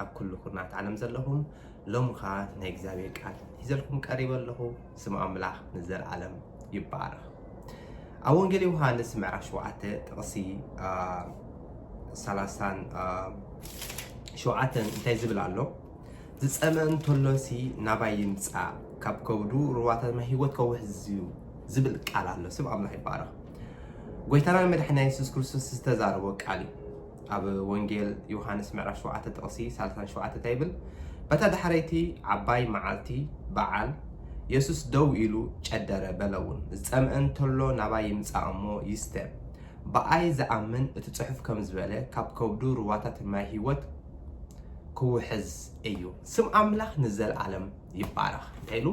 ኣብ ኩሉ ኩርናዓት ዓለም ዘለኹም ሎሚ ከኣ ናይ እግዚኣብሔር ቃል ሒዘልኩም ቀሪበ ኣለኹ ስም ኣምላኽ ንዘልዓለም ይባረኽ ኣብ ወንጌል ዮሃንስ ምዕራፍ ሸውዓተ ጥቕሲ ሰላሳን ሸውዓተን እንታይ ዝብል ኣሎ ዝጸመ እንተሎሲ ናባይ ይምጻእ ካብ ከብዱ ሩባታት ማይ ህይወት ከውሕዝ እዩ ዝብል ቃል ኣሎ ስም ኣምላኽ ይባረኽ ጎይታና መድሓኒና የሱስ ክርስቶስ ዝተዛረቦ ቃል እዩ ኣብ ወንጌል ዮሃንስ ምዕራፍ ሸውዓተ ጥቕሲ ሳልሳን ሸውዓተ እንታይ ይብል? በታ ዳሕረይቲ ዓባይ መዓልቲ፣ በዓል፣ የሱስ ደው ኢሉ ጨደረ፣ በለውን፣ ዝጸምአ እንተሎ ናባይ ይምጻእ እሞ ይስተ። ብኣይ ዝኣምን እቲ ጽሑፍ ከም ዝበለ ካብ ከብዱ ሩባታት ማይ ህይወት ክውሕዝ እዩ። ስም ኣምላኽ ንዘለኣለም ይባረኽ። እንታይ ኢሉ?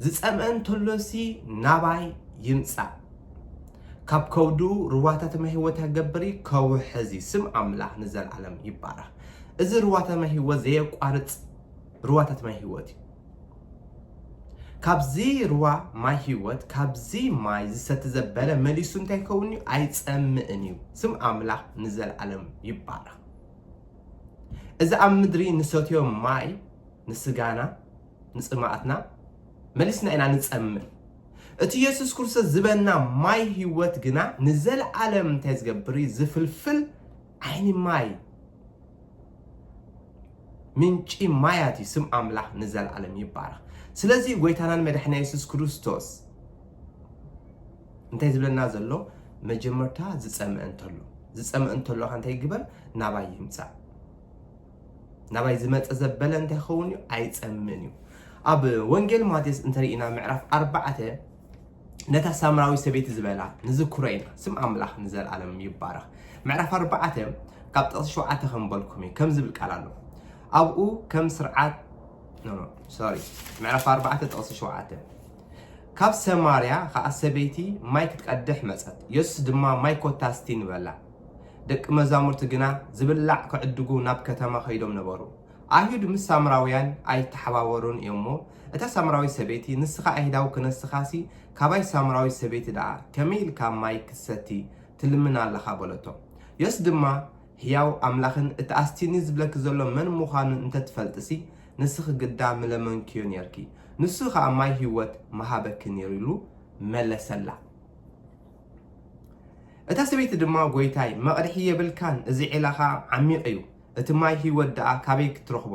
ዝጸምአ እንተሎሲ ናባይ ይምጻእ። ካብ ከብዱ ርዋታተ ማይ ህይወት ያገብሪ ከውሕዚ ስም ኣምላኽ ንዘልዓለም ይባረኽ እዚ ርዋታተ ማይ ህይወት ዘየቋርጽ ርዋታተ ማይ ህይወት እዩ ካብዚ ርዋ ማይ ህይወት ካብዚ ማይ ዝሰቲ ዘበለ መሊሱ እንታይ ይኸውን እዩ ኣይጸምእን እዩ ስም ኣምላኽ ንዘልዓለም ይባረኽ እዚ ኣብ ምድሪ ንሰትዮ ማይ ንስጋና ንፅማኣትና መሊስና ኢና ንፀምእ እቲ የሱስ ክርስቶስ ዝበና ማይ ህይወት ግና ንዘለኣለም እንታይ ዝገብር እዩ? ዝፍልፍል ዓይኒ ማይ ምንጪ ማያት እዩ። ስም ኣምላኽ ንዘለኣለም ይባረኽ። ስለዚ ጎይታናን መድሕና የሱስ ክርስቶስ እንታይ ዝብለና ዘሎ መጀመርታ ዝፀምአ እንተሎ ዝፀምአ እንተሎካ እንታይ ግበር ናባይ ይምፃእ ናባይ ዝመጸ ዘበለ እንታይ ክኸውን እዩ? ኣይጸምእን እዩ። ኣብ ወንጌል ማቴዎስ እንተርኢና ምዕራፍ ኣርባዕተ ነታ ሳምራዊ ሰበይቲ ዝበላ ንዝክሮ ኢና። ስም ኣምላኽ ንዘለኣለም ይባረኽ። ምዕራፍ ኣርባዕተ ካብ ጥቕሲ ሸውዓተ ከምበልኩም እዩ ከም ዝብል ቃል ኣሎ ኣብኡ ከም ስርዓት ሶሪ ምዕራፍ ኣርባዕተ ጥቕሲ ሸውዓተ ካብ ሰማርያ ከዓ ሰበይቲ ማይ ክትቀድሕ መፀት የሱስ ድማ ማይ ኮታስቲ ንበላ ደቂ መዛሙርቲ ግና ዚብላዕ ኪዕድጉ ናብ ከተማ ኸይዶም ነበሩ። ኣይሁድ ምስ ሳምራውያን ኣይተሓባበሩን እዮም እሞ፣ እታ ሳምራዊት ሰበይቲ፣ ንስኻ ኣይሁዳዊ ክነስኻሲ፣ ካባይ ሳምራዊት ሰበይቲ ደኣ ከመይ ኢልካ ማይ ክትሰቲ ትልምን ኣለኻ? በለቶ። የሱስ ድማ፣ ህያው ኣምላኽን እቲ ኣስቲኒ ዚብለኪ ዘሎ መን ምዃኑን እንተ ትፈልጢሲ፣ ንስኺ ግዳ ምለመንክዮ ኔርኪ፣ ንሱ ኸኣ ማይ ህይወት ምሃበኪ ነይሩ ኢሉ መለሰላ። እታ ሰበይቲ ድማ ጐይታይ፣ መቕድሒ የብልካን፣ እዚ ዒላ ኸኣ ዓሚቕ እዩ፣ እቲ ማይ ህይወት ደኣ ካበይ ክትረኽቦ?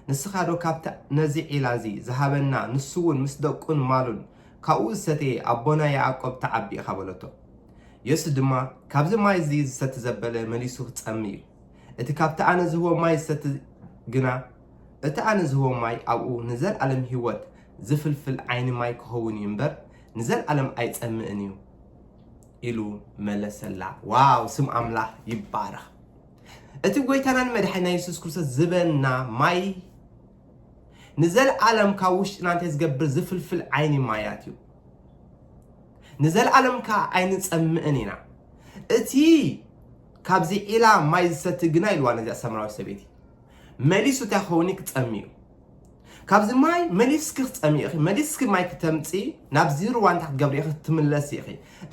ንስኻዶ ካብቲ ነዚ ዒላ እዚ ዝሃበና ንሱውን ምስ ደቁን ማሉን ካብኡ ዝሰተየ ኣቦና ያእቆብ ተዓቢ ኢኻ በለቶ። የሱስ ድማ ካብዚ ማይ እዚ ዝሰቲ ዘበለ መሊሱ ክጸምእ እዩ፣ እቲ ካብቲ ኣነ ዝህቦ ማይ ዝሰቲ ግና እቲ ኣነ ዝህቦ ማይ ኣብኡ ንዘልኣለም ህይወት ዝፍልፍል ዓይኒ ማይ ክኸውን እዩ እምበር ንዘልኣለም ኣይጸምእን እዩ ኢሉ መለሰላ። ዋው ስም ኣምላኽ ይባረኽ። እቲ ጎይታናን መድሓኒና የሱስ ክርስቶስ ዝበና ማይ ንዘለዓለም ካብ ውሽጥና እንተ ዝገብር ዝፍልፍል ዓይኒ ማያት እዩ። ንዘለዓለም ከዓ ኣይንፀምእን ኢና። እቲ ካብዚ ዒላ ማይ ዝሰቲ ግና ኢልዋ ነዚኣ ሰምራዊ ሰበይቲ መሊሱ እንታይ ክኸውን ክፀሚ እዩ ካብዚ ማይ መሊስኪ ክትጸምኢ ኢኺ፣ መሊስኪ ማይ ክተምጽኢ ናብዚ ሩባ እንታይ ክትገብሪ ኢኺ ክትምለሲ ኢኺ።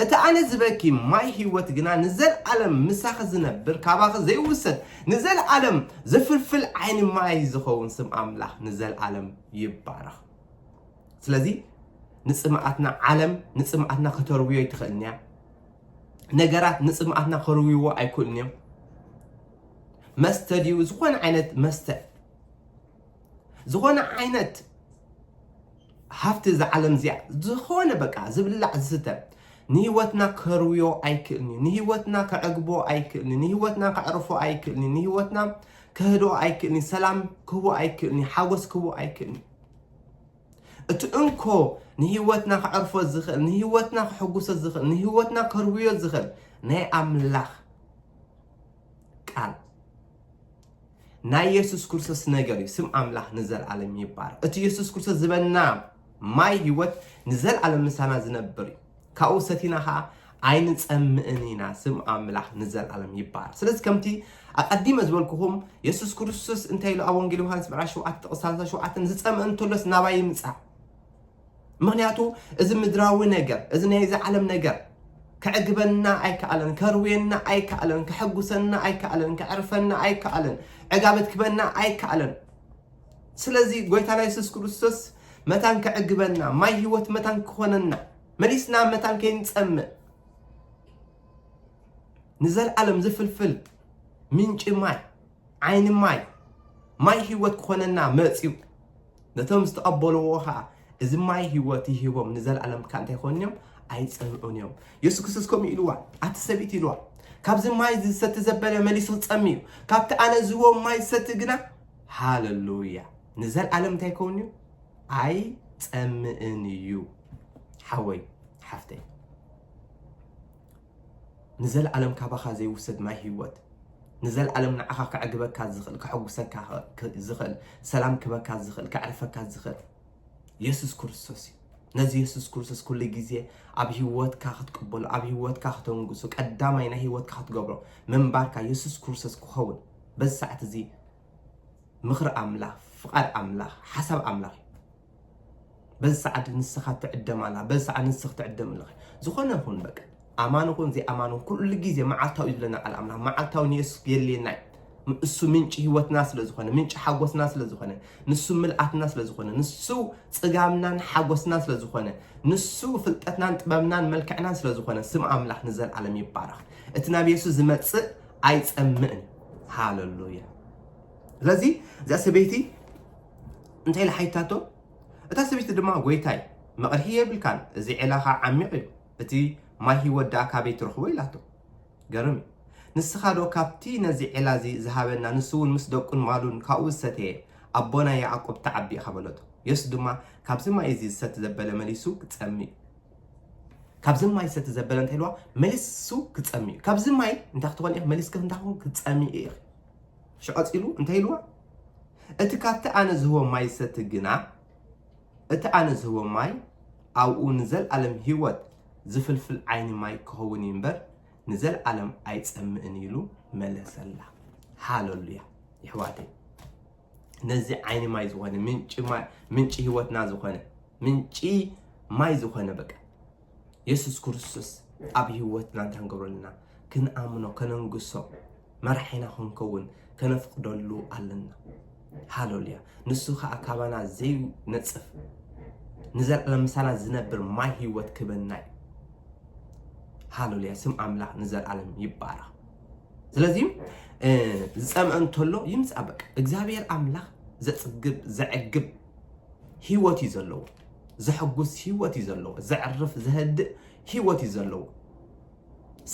እቲ ኣነ ዝበኪ ማይ ህይወት ግና ንዘልኣለም ምሳኺ ዝነብር ካባኺ ዘይውሰድ ንዘልኣለም ዝፍልፍል ዓይኒ ማይ እዩ ዝኸውን። ስም ኣምላኽ ንዘልኣለም ይባረኽ። ስለዚ ንጽምኣትና ዓለም ንጽምኣትና ከተርውዮ ኣይትኽእልን እያ። ነገራት ንጽምኣትና ከርውይዎ ኣይክእሉን እዮም። መስተ ድዩ ዝኾነ ዓይነት መስተ ዝኾነ ዓይነት ሃፍቲ እዛ ዓለም እዚኣ ዝኾነ በቃ ዝብላዕ ዝስተ ንህይወትና ከርውዮ ኣይክእልን እዩ ንህይወትና ከዕግቦ ኣይክእልን እዩ ንህይወትና ከዕርፎ ኣይክእልን እዩ ንህይወትና ከህድኦ ኣይክእልን እዩ ሰላም ክህቦ ኣይክእልን እዩ ሓጎስ ክህቦ ኣይክእልን እዩ እቲ እንኮ ንህይወትና ከዕርፎ ዝኽእል ንህይወትና ክሕጉሶ ዝኽእል ንህይወትና ከርውዮ ዝኽእል ናይ ኣምላኽ ቃል ናይ የሱስ ክርስቶስ ነገር እዩ ስም ኣምላኽ ንዘለኣለም ይባረክ እቲ የሱስ ክርስቶስ ዝበና ማይ ህይወት ንዘለኣለም ምሳና ዝነብር እዩ ካብኡ ሰቲና ከዓ ኣይንፀምእን ኢና ስም ኣምላኽ ንዘለኣለም ይባረክ ስለዚ ከምቲ ኣቀዲመ ዝበልኩኹም የሱስ ክርስቶስ እንታይ ኢሉ ኣብ ወንጌል ዮሃንስ ምዕራፍ 7 ጥቕስ 37 ዝፀምእ እንተሎስ ናባይ ይምፃእ ምኽንያቱ እዚ ምድራዊ ነገር እዚ ናይ እዚ ዓለም ነገር ከዕግበና ኣይከኣለን፣ ከርውየና ኣይከኣለን፣ ከሐጉሰና ኣይከኣለን፣ ከዕርፈና ኣይከኣለን፣ ዕጋበት ክበና ኣይከኣለን። ስለዚ ጎይታና የሱስ ክርስቶስ መታን ከዕግበና ማይ ህይወት መታን ክኾነና መሊስና መታን ከይንፀምእ ንዘለዓለም ዝፍልፍል ምንጪ ማይ ዓይኒ ማይ ማይ ህይወት ክኾነና መፅዩ ነቶም ዝተቐበልዎ ኸኣ እዚ ማይ ህይወት ይህቦም ንዘለኣለም ከኣ እንታይ ይኾኑ እዮም ኣይጸምዑን እዮም የሱስ ክርስቶስ ከምኡ ኢልዋ ኣቲ ሰብይቲ ኢልዋ ካብዚ ማይ ዝሰቲ ዘበለ መሊሱ ክጸሚ እዩ ካብቲ ኣነ ዝህቦ ማይ ዝሰቲ ግና ሃለሉያ ንዘለኣለም እንታይ ይኸውን እዩ ኣይጸምእን እዩ ሓወይ ሓፍተይ ንዘልኣለም ካባኻ ዘይውሰድ ማይ ህይወት ንዘልኣለም ንዓኻ ከዕግበካ ዝኽእል ከሕጉሰካ ዝኽእል ሰላም ክህበካ ዝኽእል ከዕርፈካ ዝኽእል የሱስ ክርስቶስ እዩ ነዚ የሱስ ክርስቶስ ኩሉ ግዜ ኣብ ህይወትካ ክትቅበሎ ኣብ ህይወትካ ክተንግሱ ቀዳማይ ናይ ህይወትካ ክትገብሮ ምንባርካ የሱስ ክርስቶስ ክኸውን በዚ ሰዓት እዚ ምኽሪ ኣምላኽ ፍቓድ ኣምላኽ ሓሳብ ኣምላኽ እዩ በዚ ሰዓት ንስኻ ትዕደም ኣላ በዚ ሰዓት ንስኽ ትዕደም ኣለኺ ዝኾነ ይኹን በቃ ኣማን ይኹን ዘይኣማን ይኹን ኩሉ ግዜ መዓልታዊ እዩ ዝብለና ቃል ኣምላኽ መዓልታዊ ንየሱስ የድልየና እዩ እሱ ምንጪ ህይወትና ስለ ዝኾነ ምንጪ ሓጎስና ስለ ዝኾነ ንሱ ምልኣትና ስለ ዝኾነ ንሱ ጽጋምናን ሓጎስና ስለ ዝኾነ ንሱ ፍልጠትናን ጥበብናን መልክዕናን ስለ ዝኾነ ስም ኣምላኽ ንዘለዓለም ይባረኽ እቲ ናብ የሱስ ዝመጽእ ኣይጸምእን ሃለሉያ ስለዚ እዛ ሰበይቲ እንታይ ኢላ ሓቲታቶ? እታ ሰበይቲ ድማ ጐይታይ፣ መቕርሒ የብልካን፣ እዚ ዔላኻ ዓሚቕ እዩ፣ እቲ ማይ ህይወት ደኣ ካበይ ትረኽቦ? ኢላቶ። ገርም እዩ። ንስኻዶ ካብቲ ነዚ ዔላ እዚ ዝሃበና ንሱውን ምስ ደቁን ማሉን ካብኡ ዝሰተየ ኣቦና ያዕቆብ ትዓቢ ኢኻ በለቶ። የሱስ ድማ ካብዚ ማይ እዚ ዝሰቲ ዘበለ መሊሱ ክጸሚ እዩ። ካብዚ ማይ ዝሰቲ ዘበለ እንታይ ኢልዋ? መሊሱ ክጸሚ እዩ። ካብዚ ማይ እንታይ ክትኾኒ ኢኺ? መሊስኪ እንታይ ክትኮኒ ክትጸሚ ኢኺ። እሺ ቀጺሉ እንታይ ኢልዋ እቲ ካብቲ ኣነ ዝህቦ ማይ ዝሰቲ ግና እቲ ኣነ ዝህቦ ማይ ኣብኡ ንዘልኣለም ህይወት ዝፍልፍል ዓይኒ ማይ ክኸውን እዩ እምበር ንዘልኣለም ኣይጸምእን ኢሉ መለሰላ ሃለሉያ ይሕዋተይ ነዚ ዓይኒ ማይ ዝኾነ ምንጪ ህይወትና ዝኾነ ምንጪ ማይ ዝኾነ በቃ የሱስ ክርስቶስ ኣብ ህይወትና እንታይ ክንገብረሉና ክንኣምኖ ከነንግሶ መራሒና ክንከውን ከነፍቅደሉ ኣለና ሃለሉያ ንሱ ከዓ ካባና ዘይነፅፍ ንዘለኣለም ምሳና ዝነብር ማይ ህይወት ክበና እዩ ሃለሉያ ስም ኣምላኽ ንዘለኣለም ይባረኽ ስለዚ ዝፀምአ እንተሎ ይምፃእ በቃ እግዚኣብሔር ኣምላኽ ዘፅግብ ዘዕግብ ህይወት እዩ ዘለዎ ዘሐጉስ ሂወት እዩ ዘለዎ ዘዕርፍ ዘህድእ ሂወት እዩ ዘለዎ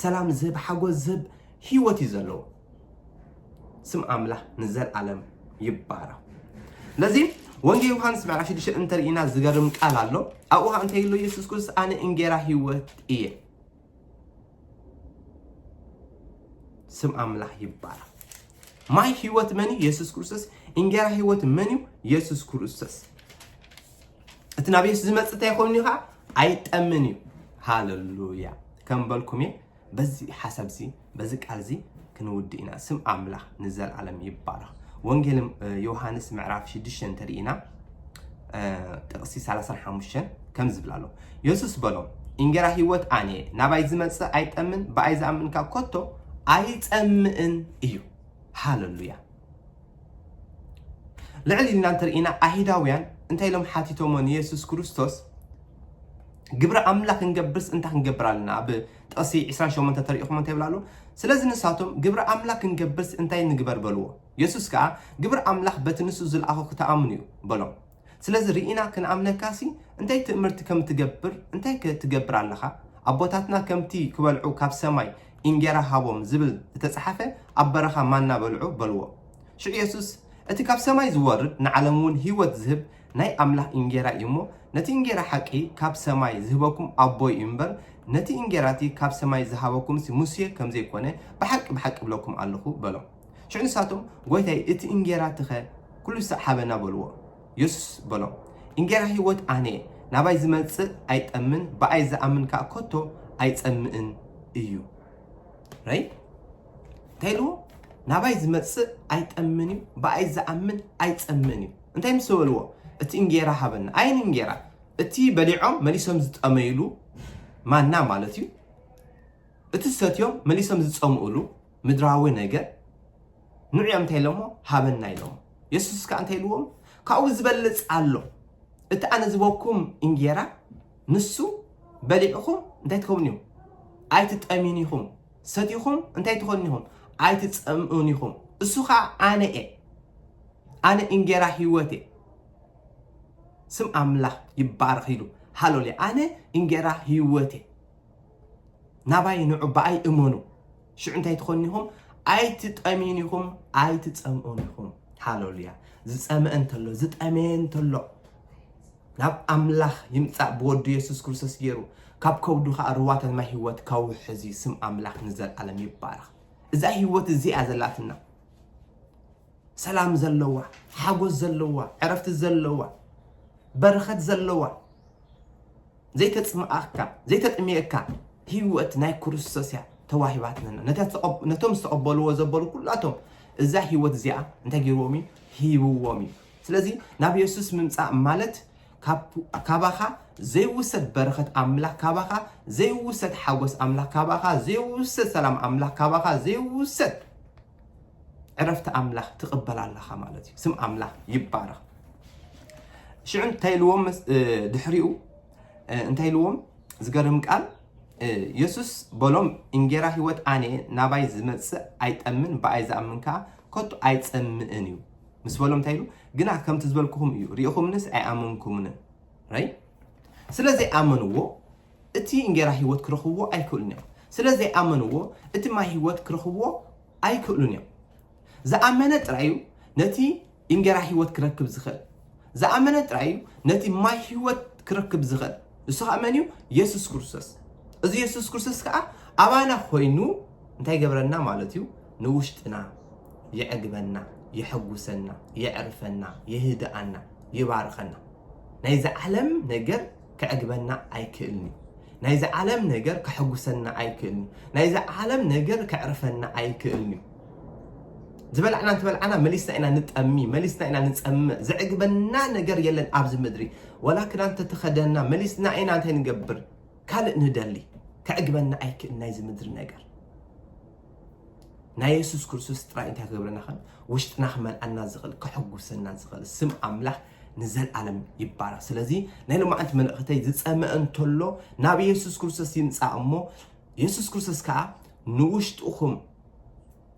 ሰላም ዝህብ ሓጎስ ዝህብ ሂወት እዩ ዘለዎ ስም ኣምላኽ ንዘለኣለም ይባረኽ ስለዚ ወንጌል ዮሃንስ ምዕራፍ 6 እንተርኢና ዝገርም ቃል ኣሎ ኣብኡ ከዓ እንታይ ኢሉ ኢየሱስ ክርስቶስ ኣነ እንጌራ ሂወት እየ ስም ኣምላኽ ይባረኽ። ማይ ህይወት መን እዩ? የሱስ ክርስቶስ። እንጌራ ህይወት መን እዩ? የሱስ ክርስቶስ። እቲ ናብ የሱስ ዝመጽእ እንታይ ኮይኑ እዩ ከዓ ኣይጠምን እዩ። ሃለሉያ ከም በልኩም እየ በዚ ሓሳብ እዚ በዚ ቃል እዚ ክንውድእ ኢና። ስም ኣምላኽ ንዘልኣለም ይባረኽ። ወንጌል ዮሃንስ ምዕራፍ 6 እንተሪኢና ጥቕሲ 35 ከም ዝብል ኣሎ የሱስ በሎም እንጌራ ህይወት ኣነ ናባይ ዝመፅእ ኣይጠምን ብኣይ ዝኣምንካ ኮቶ ኣይፀምእን እዩ ሃለሉያ ልዕሊ ኢልና እንተርኢና ኣይሁዳውያን እንታይ ኢሎም ሓቲቶሞ ንየሱስ ክርስቶስ ግብሪ ኣምላኽ ክንገብርስ እንታይ ክንገብር ኣለና ኣብ ጥቕሲ ዕስራን ሸሞንተን ተሪእኹሞ እንታይ ይብል ኣሎ? ስለዚ ንሳቶም፣ ግብሪ ኣምላኽ ክንገብርሲ እንታይ ንግበር? በልዎ። የሱስ ከኣ፣ ግብሪ ኣምላኽ በቲ ንሱ ዝልኣኾ ክትኣምኑ እዩ፣ በሎም። ስለዚ ርኢና ክንኣምነካሲ እንታይ ትእምርቲ ከም እትገብር፣ እንታይከ ትገብር ኣለኻ? ኣቦታትና ከምቲ ክበልዑ ካብ ሰማይ እንጌራ ሃቦም ዝብል እተጸሓፈ፣ ኣብ በረኻ ማና በልዑ፣ በልዎ። ሽዑ የሱስ፣ እቲ ካብ ሰማይ ዝወርድ ንዓለምውን ህይወት ዝህብ ናይ ኣምላኽ እንጌራ እዩ እሞ፣ ነቲ እንጌራ ሓቂ ካብ ሰማይ ዚህበኩም ኣቦይ እዩ እምበር፣ ነቲ እንጌራ እቲ ኻብ ሰማይ ዝሃበኩምሲ ሙሴ ከም ዘይኰነ፣ ብሓቂ ብሓቂ እብለኩም ኣሎኹ በሎም። ሽዑ ንሳቶም፣ ጐይታይ፣ እቲ እንጌራ እቲኸ ኵሉ ሳዕ ሃበና በልዎ። የሱስ በሎም፣ እንጌራ ህይወት ኣነ እየ፣ ናባይ ዚመጽእ ኣይጠምን፣ ብኣይ ዚኣምን ከኣ ከቶ ኣይጸምእን እዩ። ራእይ እንታይ ኢልዎ? ናባይ ዚመጽእ ኣይጠምን እዩ፣ ብኣይ ዚኣምን ኣይጸምእን እዩ። እንታይ ምስ በልዎ እቲ እንጌራ ሃበና ኣየን እንጌራ እቲ በሊዖም መሊሶም ዝጠመይሉ ማና ማለት እዩ እቲ ሰትዮም መሊሶም ዝፀምኡሉ ምድራዊ ነገር ንዑ እዮም እንታይ ኢሎሞ ሃበና ኢሎሞ የሱስ ከዓ እንታይ ኢልዎም ካብኡ ዝበልፅ ኣሎ እቲ ኣነ ዝበኩም እንጌራ ንሱ በሊዕኹም እንታይ ትኸውን እዩ ኣይትጠሚን ኢኹም ሰቲኹም እንታይ ትኾኑ ኢኹም ኣይትጸምኡን ኢኹም እሱ ኸዓ ኣነ እየ ኣነ እንጌራ ህይወት እየ ስም ኣምላኽ ይባረኽ ኢሉ ሃሎልያ ኣነ እንጌራ ህይወት እየ ናባይ ንዑ ብኣይ እመኑ ሽዑ እንታይ ትኾኑ ኢኹም ኣይትጠምዩን ኢኹም ኣይትጸምኡን ኢኹም ሃሎልያ ዝጸምአ እንተሎ ዝጠመየ እንተሎ ናብ ኣምላኽ ይምጻእ ብወዱ የሱስ ክርስቶስ ጌሩ ካብ ከብዱ ከኣ ርዋታት ማይ ህይወት ከውሕዝ እዩ ስም ኣምላኽ ንዘልኣለም ይባረኽ እዛ ህይወት እዚኣ ዘላትና ሰላም ዘለዋ ሓጎስ ዘለዋ ዕረፍቲ ዘለዋ በረኸት ዘለዋ ዘይተጽምኣካ ዘይተጥምየካ ህይወት ናይ ክርስቶስ እያ ተዋሂባትነና ነቶም ዝተቐበልዎ ዘበሉ ኩላቶም እዛ ህይወት እዚኣ እንታይ ገይርዎም እዩ ሂብዎም እዩ ስለዚ ናብ የሱስ ምምጻእ ማለት ካባኻ ዘይውሰድ በረኸት ኣምላኽ ካባኻ ዘይውሰድ ሓጎስ ኣምላኽ ካባኻ ዘይውሰድ ሰላም ኣምላኽ ካባኻ ዘይውሰድ ዕረፍቲ ኣምላኽ ትቕበል ኣለኻ ማለት እዩ ስም ኣምላኽ ይባረኽ ሽዑ እንታይ ኢልዎም ድሕሪኡ እንታይ ኢልዎም ዝገርም ቃል የሱስ በሎም እንጌራ ህይወት ኣነ ናባይ ዝመፅእ ኣይጠምን ብኣይ ዝኣምን ከዓ ከቶ ኣይፀምእን እዩ ምስ በሎም እንታይ ኢሉ ግና ከምቲ ዝበልኩኹም እዩ ርኢኹምንስ ኣይኣመንኩምንን ራይ ስለ ዘይኣመንዎ እቲ እንጌራ ህይወት ክረኽብዎ ኣይክእሉን እዮም ስለ ዘይኣመንዎ እቲ ማይ ህይወት ክረኽብዎ ኣይክእሉን እዮም ዝኣመነ ጥራይ እዩ ነቲ እንጌራ ህይወት ክረክብ ዝኽእል ዝኣመነ ጥራይ እዩ ነቲ ማይ ህይወት ክረክብ ዝኽእል። ንሱ ኸኣ መን እዩ? የሱስ ክርስቶስ። እዚ የሱስ ክርስቶስ ከኣ ኣባና ኮይኑ እንታይ ይገብረና ማለት እዩ? ንውሽጥና የዕግበና፣ የሐጉሰና፣ የዕርፈና፣ የህድኣና፣ ይባርኸና። ናይዚ ዓለም ነገር ከዕግበና ኣይክእልን'ዩ። ናይ'ዚ ዓለም ነገር ከሐጉሰና ኣይክእልን'ዩ። ናይ'ዚ ዓለም ነገር ከዕርፈና ኣይክእልን'ዩ። ዝበላዕና እንተበላዕና መሊስና ኢና ንጠሚ፣ መሊስና ኢና ንጸምእ፣ ዘዕግበና ነገር የለን ኣብ'ዚ ምድሪ። ዋላ ክዳን እንተተኸደንና መሊስና ኢና እንታይ ንገብር ካልእ ንደሊ። ከዕግበና ኣይክእልን ናይ'ዚ ምድሪ ነገር። ናይ የሱስ ክርስቶስ ጥራይ እንታይ ክገብረና ይኽእል? ውሽጥና ክመልኣና ዝኽእል፣ ከሐጉሰና ዝኽእል፣ ስም ኣምላኽ ንዘልኣለም ይባረኽ ስለዚ ናይ ሎማዓንቲ መልእኽተይ ዝፀመ እንተሎ ናብ የሱስ ክርስቶስ ይምፃእ እሞ የሱስ ክርስቶስ ከዓ ንውሽጥኹም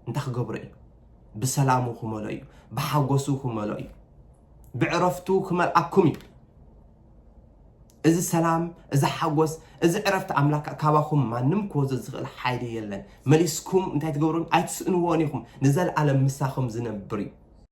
እንታይ ክገብሮ እዩ ብሰላሙ ክመሎ እዩ ብሓጎሱ ክመሎ እዩ ብዕረፍቱ ክመልኣኩም እዩ እዚ ሰላም እዚ ሓጎስ እዚ ዕረፍቲ ኣምላክ ካባኹም ማንም ክወዞ ዝኽእል ሓይሊ የለን መሊስኩም እንታይ ትገብሩን ኣይትስእንዎን ኢኹም ንዘለኣለም ምሳኹም ዝነብር እዩ